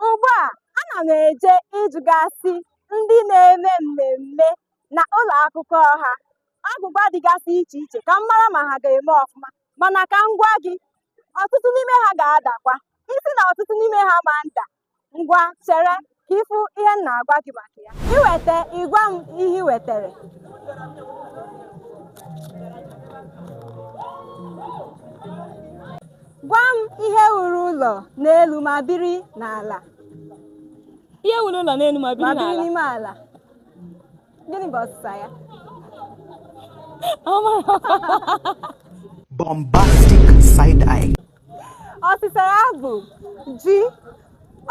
Ugbu a, ana m eje ịjụgasị ndị na-eme mmemme na ụlọ akwụkwọ ha agwụgwa dịgasị iche iche ka m mara ma ha ga-eme ọfụma mana ka m gwa gị ọtụtụ n'ime ha ga-adakwa ị sị na ọtụtụ n'ime ha ma nda ngwa chere ka ị fụ ihe m na-agwa gị maka ya ị gwa m ihe ị wetara Gwa m ihe wuru ụlọ n'elu ma biri n'ala. Ihe wuru ụlọ n'elu ma biri n'ala. Ma biri n'ime ala. Gịnị bụ ọsịsa ya? Bombastic side eye. Ọsịsa ya bụ ji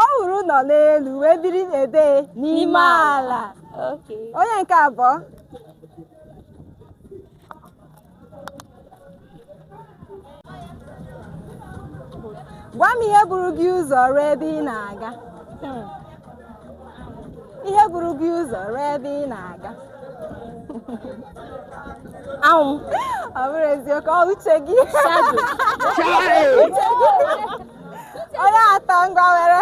o wuru ụlọ n'elu wee biri n'ebe n'ime ala onye nke abụọ gwa m ihe buru gị ụzọ ruo ebe ị na-aga ihe buru gị ụzọ ruo ebe ị na-aga anwụ ọ bụrọ eziokwu ọ uche gị uche gị onye atọ ngwa were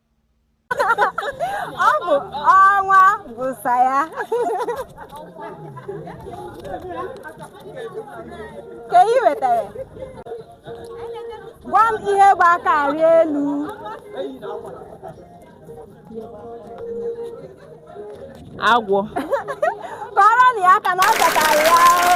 ọ bụ ọnwa bụ ụsa ya ka ị wetara gwa m ihe gba aka arị elu agwọ kụọrọnụ ya aka na ọ zatara ya o.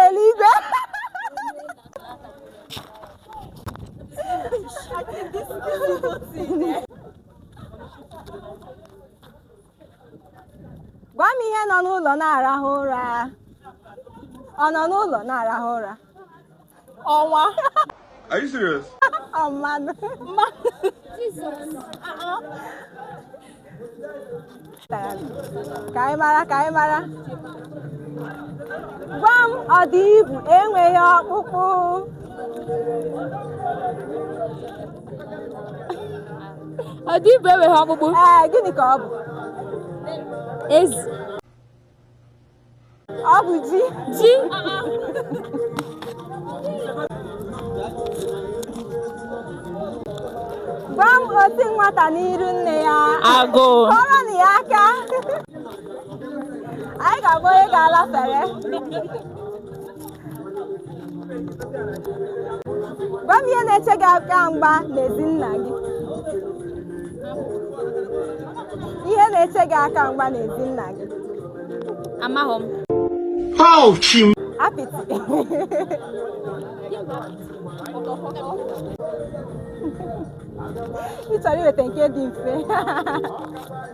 eluigwe gwa m ihe nọ n'ụlọ na-arahụ ụra ọ nọ n'ụlọ na-arahụ ụra ọnwa Are you serious? Ah, mmadụ mmadụ ka anyị mara ka anyị mara gwa m ọ dị ibu enweghị ọkpụkpụ ọ dị ibu enweghị ọkpụkpụ ee gịnị ka ọ bụ ezi Ọ bụ ji. Ji. Gwa m oti nwata n'iru nne ya. Agụụ. Kụọrọnụ ya aka. Anyị ga-agba onye ga-alafere. Gwa m ihe na-eche gị aka mgba n'ezi nna gị. Ihe na-eche gị aka mgba n'ezi nna gị. Amaghị m. Pauchi! Apịtị. Ị chọrọ iweta nke dị mfe.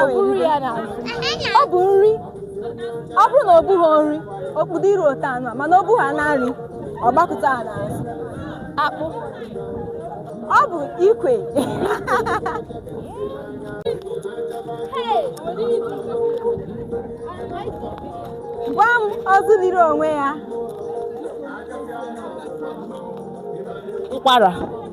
ọ bụrụ ya na ọ bụ nri ọ bụrụ na o bughị nri o kpudo iru ote ana mana ọ bụghị ana nri ọ gbakụta ana azụ akpụ ọ bụ ikwe gwa m ozu liri onwe ya ụkwara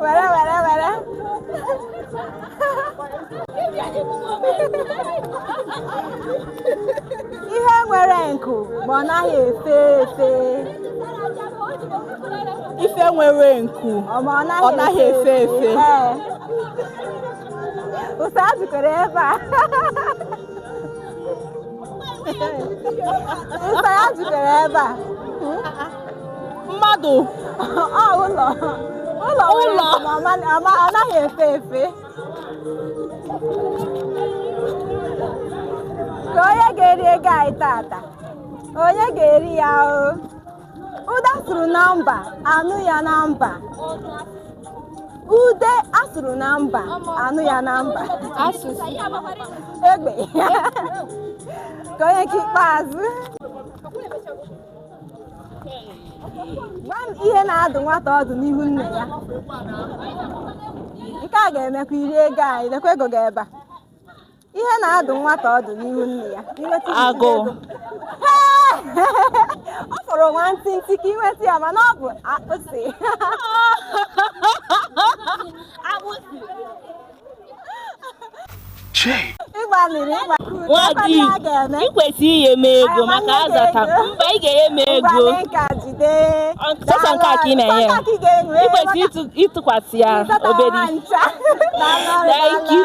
were were were ihe nwere nku ma ọ naghị efe efe ife nwere nku ma ọ naghị Ọ naghị efe efe. Ee. ụsa a jikọrọ ebe a Ụsa ya jikọrọ ebe a. mmadụ Ọ ụlọ. Ụlọ nwere Ụlọ. nku ma ọ ma- ọ ma- ọ naghị efe efe. Ka onye ga-eri ego anyị tata? Onye ga-eri ya o? Ude a sụrụ na mba, a nụ ya na mba. Ude a sụrụ na mba, a nụ ya na mba. Asụsụ. Egbe. Ka onye nke ikpeazụ. Gwa m ihe na-adụ nwata ọdụ n'ihu nne ya. Nke a ga-emekwa iri ego anyị, lekwa ego ga ebe a. ihe na-adụ nwata ọdụ n'ihu nne ya agụụ ọ fọrọ nwantịntị ka i nweta ya mana ọ bụ agbụsị agbụsị ị gbalịrị ịgbalị ị kwesịrị inye m ego maka azata mba ị ga-enye m ego sọsọ nke a ka ị na-enye m ị kwesịrị ịtụkwasị ya obere thank you